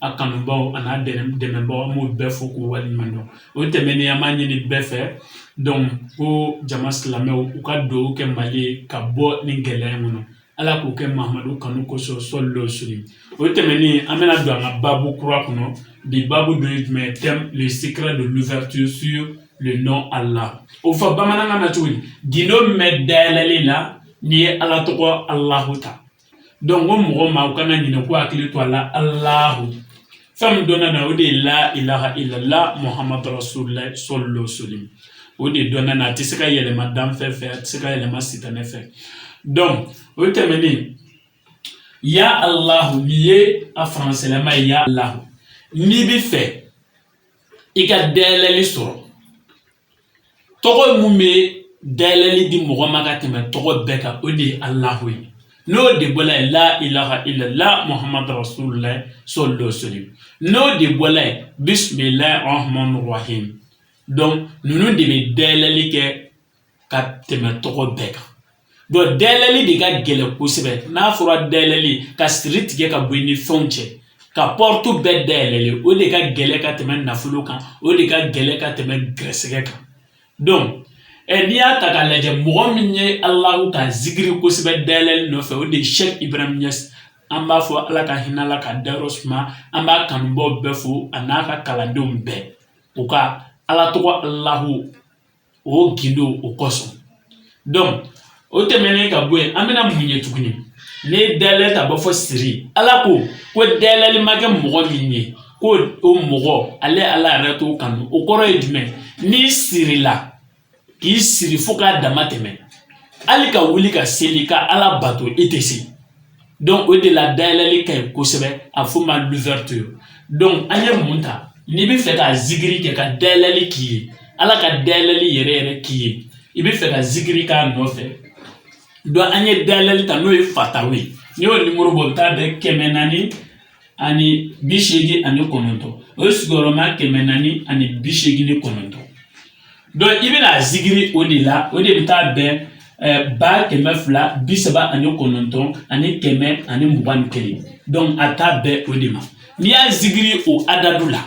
a kanubaaw an'a dɛmɛbaaw an b'u bɛɛ fo k'u waleɲuman dɔn o tɛmɛnen an b'a ɲini bɛɛ fɛ donc ko jama silamɛw u ka dugawu kɛ mali ka bɔ nin gɛlɛya in kɔnɔ ala k'o kɛ mamadu kanu kosɔn sallallahu alaihi wasallam o tɛmɛnen an bɛna don an ka baabu kura kɔnɔ bi baabu dɔ ye jumɛn thème le secret de l'ouverture sur le nom allah o fɔ bamanankan na cogo di gindo min bɛ dayɛlɛli la n'i ye ala tɔgɔ alahu ta donc ko mɔgɔ ma u kana ɲinɛ k'u hakili to a la alahu fɛn min dɔnna na o de ye la ilaha illallah muhammadu rasulullah sallallahu alaihi wasallam o de dɔnna na a tɛ se ka yɛlɛma danfɛn fɛ a tɛ se ka yɛlɛma sitanɛ fɛ donc o tɛmɛnen ya alahu nin ye a faransɛlama ye ya alahu n'i bɛ fɛ i ka dayɛlɛli sɔrɔ tɔgɔ mun bɛ dayɛlɛli di mɔgɔ ma ka tɛmɛ tɔgɔ bɛɛ kan o de ye alahu ye n'o de bɔla ye la ilaha illallah muhammadu rasulullah sallallahu alaihi wasallam n'o de bɔla ye bismillahi rahmanu rahim donc ninnu de bɛ dayɛlɛli kɛ ka tɛmɛ tɔgɔ bɛɛ kan Donc dayɛlɛli de ka gɛlɛn kosɛbɛ n'a fɔra dayɛlɛli ka siri tigɛ ka bɔ i ni fɛnw cɛ ka porte bɛɛ dayɛlɛli o de ka gɛlɛn ka tɛmɛ nafolo kan o de ka gɛlɛn ka tɛmɛ gɛrɛsɛgɛ kan donc ɛ n'i y'a ta k'a lajɛ mɔgɔ min ye alahu ka zikiri kosɛbɛ dayɛlɛli nɔfɛ o de ye cheikh ibrahim niass an b'a fɔ ala ka hinɛ a la k'a dayɔrɔ suma an b'a kanubaaw bɛɛ fo an'a ka kalandenw bɛɛ u ka ala tɔgɔ alahu o gindo o kosɔn donc o tɛmɛnen ka bɔ yen an bɛna mun ye tuguni ne ye dayɛlɛli ta b'a fɔ siri ala ko ko dayɛlɛli ma kɛ mɔgɔ min ye ko o mɔgɔ ale ala yɛrɛ t'o kanu o kɔrɔ ye jumɛn n'i sirila k'i siri fo k'a dama tɛmɛ hali ka wuli ka seli ka ala bato i tɛ se donc o de la dayɛlɛli ka ɲi kosɛbɛ a f'o ma l'ouverture donc an ye mun ta n'i bɛ fɛ ka zikiri kɛ ka dayɛlɛli k'i ye ala ka dayɛlɛli yɛrɛ yɛrɛ k'i ye i bɛ fɛ ka zikiri k'a nɔfɛ donc an ye dayɛlɛli ta n'o ye fatahu ye n'i y'o nimoro bɔ o bɛ taa bɛn kɛmɛ naani ani bi seegin ani kɔnɔntɔn o ye sigiyɔrɔma kɛmɛ naani ani bi seegin ni kɔnɔntɔn donc i bɛna a zikiri o de la o de bɛ taa bɛn ba kɛmɛ fila bi saba ani kɔnɔntɔn ani kɛmɛ ani mugan ni kelen donc a taa bɛn o de ma n'i y'a zikiri o adadu la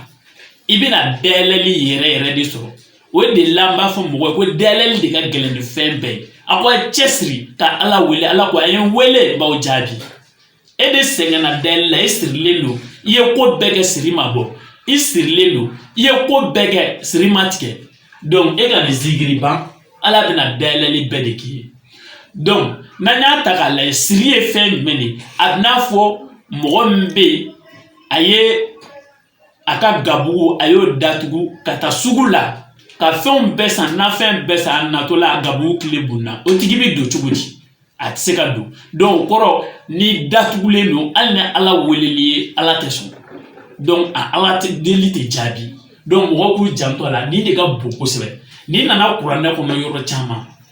i bɛna dayɛlɛli yɛrɛ yɛrɛ de sɔrɔ o de la n b'a fɔ mɔgɔ ye ko dayɛlɛli de ka gɛlɛn ni fɛn bɛɛ ye a ko a cɛsiri ka ala wele ala ko a ye n wele n b'aw jaabi e de sɛgɛnna dayɛlɛli la e sirilen don i ye ko bɛɛ kɛ siri ma bɔ i sirilen don i ye ko bɛɛ kɛ siri ma tigɛ donc e ka nin zikiri ban ala bɛna dayɛlɛli bɛɛ de k'i ye donc n'an y'a ta k'a lajɛ siri ye fɛn jumɛn de ye a bɛ n'a fɔ mɔgɔ min bɛ yen a ye a ka gabugu a y'o datugu ka taa sugu la ka fɛnw bɛɛ san nafɛn bɛɛ san a natɔla a gabugu kile bunna o tigi bi don cogo di a tɛ se ka don donc o kɔrɔ n'i datugulen don hali ni ala weleli ye ala tɛ sɔn donc a ala tɛ deli tɛ jaabi donc mɔgɔw k'u janto a la nin de ka bon kosɛbɛ n'i nana kuranɛ kɔnɔ yɔrɔ caman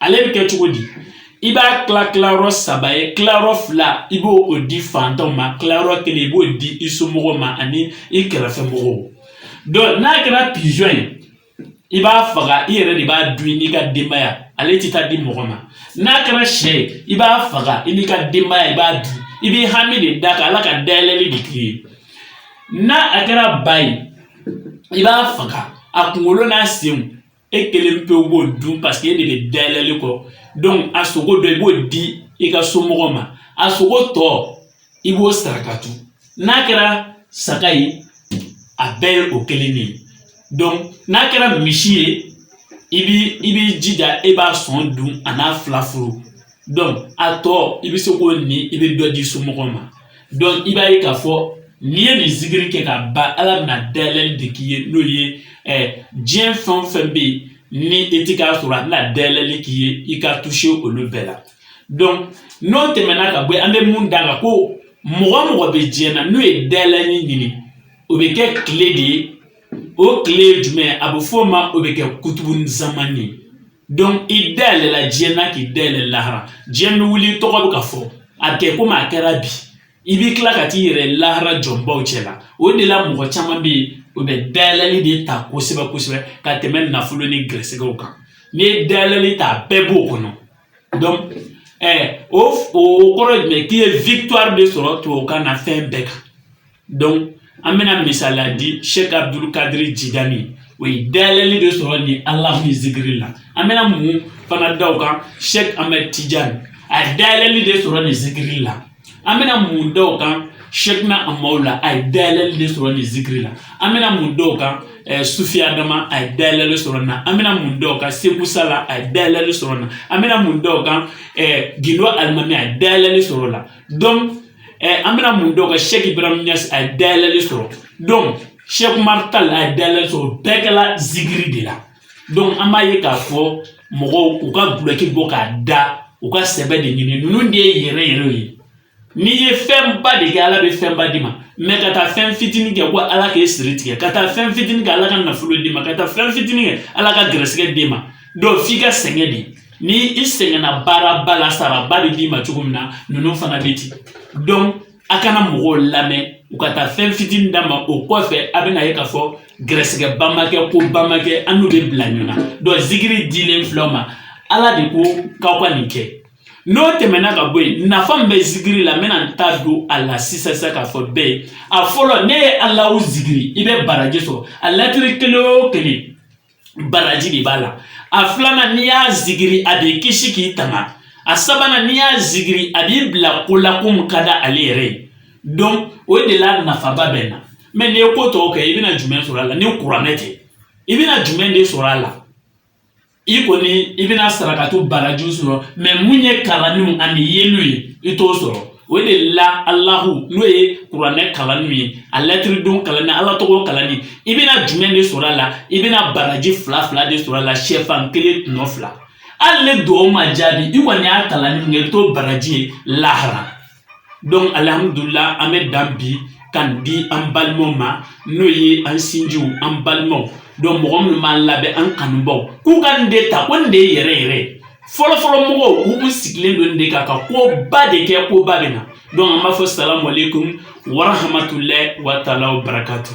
ale bɛ kɛ cogo di i b'a tila tilayɔrɔ saba ye tilayɔrɔ fila i b'o di fantanw ma tilayɔrɔ kelen i b'o di i somɔgɔw ma ani i kɛrɛfɛ mɔgɔw donc n'a kɛra pigeon ye i b'a faga i yɛrɛ de b'a dun n'i ka denbaya ale tɛ taa di mɔgɔ ma n'a kɛra sɛ ye i b'a faga i n'i ka denbaya i b'a dun i b'i hami de d'a kan ala ka dayɛlɛli de k'i ye n'a a kɛra ba ye i b'a faga a kunkolo n'a senw e kelen pewu b'o dun parce que e de bɛ dayɛlɛli kɔ donc a sogo dɔ i b'o di i ka somɔgɔw ma a sogo tɔ i b'o sarakatu n'a kɛra saga ye a bɛɛ ye o kelen de ye donc n'a kɛra misi ye i b'i jija e b'a sɔn dun an'a fila furu a tɔ i bɛ se k'o ni i bɛ dɔ di somɔgɔw ma donc i b'a ye k'a fɔ n'i ye nin zikiri kɛ ka ban ala bɛna dayɛlɛli de k'i ye n'o ye diɲɛ fɛn o fɛn bɛ yen ni e ti k'a sɔrɔ a bɛna dayɛlɛli k'i ye i ka touché olu bɛɛ la donc n'o tɛmɛna ka bɔ yen an bɛ mun d'a la ko mɔgɔ o mɔgɔ bɛ diɲɛ na n'o ye dayɛlɛli ɲini o bɛ kɛ kile de ye o kile ye jumɛn ye a bɛ f'o ma o bɛ kɛ kutubu zamani ye donc i dayɛlɛla diɲɛ na k'i dayɛlɛ lahara diɲɛ bɛ wuli i tɔgɔ bɛ ka fɔ a kɛ komi a kɛra bi i b'i tila ka t'i yɛrɛ lahara jɔnbaw cɛ la o de la mɔgɔ caman bɛ yen o bɛ dayɛlɛli de ta kosɛbɛ kosɛbɛ ka tɛmɛ nafolo ni gɛrɛsɛgɛw kan n'i ye dayɛlɛli ta a bɛɛ b'o kɔnɔ donc ɛɛ o o kɔrɔ ye jumɛn k'i ye victoire de sɔrɔ tubabukan na fɛn bɛɛ kan donc an bɛna misaliya di sɛk abudul kadiri jidani o ye dayɛlɛli de sɔrɔ nin ala min zikiri la an bɛna mun fana da o kan sɛk amɛd tijani a ye dayɛlɛli de sɔrɔ nin zikiri la an bɛna mun da o kan sɛkina amawula a ye dayɛlɛli de sɔrɔ nin zikiri la an bɛna mun da o kan eh, sufi adama a ye dayɛlɛli sɔrɔ na an bɛna mun da o kan seku sala a ye dayɛlɛli sɔrɔ na an bɛna mun da o kan eh, gindo alimami a ye dayɛlɛli sɔrɔ la donc an bɛna mun d'o kan sɛki ibrahim a ye dayɛlɛli sɔrɔ donc sɛki umaru tali a ye dayɛlɛli sɔrɔ bɛɛ kɛla zikiri de la donc an b'a ye k'a fɔ mɔgɔw u ka gulɔki bɔ k'a da u ka sɛbɛ de ɲini ninnu de ye yɛrɛ yɛrɛ ye n'i ye fɛnba de kɛ ala bɛ fɛnba d'i ma mais ka taa fɛn fitinin kɛ ko ala k'e siri tigɛ ka taa fɛn fitinin kɛ ala ka nafolo d'i ma ka taa fɛn fitinin kɛ ala ka gɛrɛsɛgɛ d'i ma donc f'i ka sɛgɛn de ni i sɛgɛnna baaraba la saraba bɛ d'i ma cogo min na ninnu fana bɛ ten donc a kana mɔgɔw lamɛn u ka taa fɛn fitinin d'a ma o kɔfɛ a bɛna ye k'a fɔ gɛrɛsɛgɛba ma kɛ koba ma kɛ a n'u bɛ bila ɲɔgɔn na donc zikiri dilen filɛ aw ma ala de ko k'aw ka nin kɛ n'o tɛmɛna ka bɔ yen nafa min bɛ zikiri la n bɛna n da don a la sisan sisan k'a fɔ bɛɛ ye a fɔlɔ n'e ye alahu zikiri i bɛ baraji sɔrɔ a latiri kelen o kelen baraji de b'a la a filanan n'i y'a zikiri a b'i kisi k'i tanga a sabanan n'i y'a zikiri a b'i bila ko la ko mun ka d'ale yɛrɛ ye donc o de la nafaba bɛ na mais n'i ye ko tɔw kɛ i bɛna jumɛn sɔrɔ a la ni kuranɛ tɛ i bɛna jumɛn de sɔrɔ a la i kɔni i bɛna sarakato barajiw sɔrɔ mais mun ye kalanniw ani yeliw ye i t'o sɔrɔ o de la alahu n'o ye kuranɛ kalanni ye a lɛtiridenw kalanni ala tɔgɔ kalanni i bɛna jumɛn de sɔrɔ a la i bɛna baraji fila fila de sɔrɔ a la sɛfan kelen tɔnɔ fila hali ni dugawu ma jaabi i kɔni y'a kalanni min kɛ i bɛ t'o baraji ye lahara donc alihamudulila an bɛ dan bi kan di an balimaw ma n'o ye an sinjiw an balimaw donc mɔgɔ minnu b'an lamɛn an kanubaw k'u ka nin de ta ko nin de ye yɛrɛ yɛrɛ ye fɔlɔfɔlɔ mɔgɔw k'u kun sigilen don nin de kan ka koba de kɛ koba bɛ na donc an b'a fɔ salamu aleykum warahamatulahi wa taala wa barakatu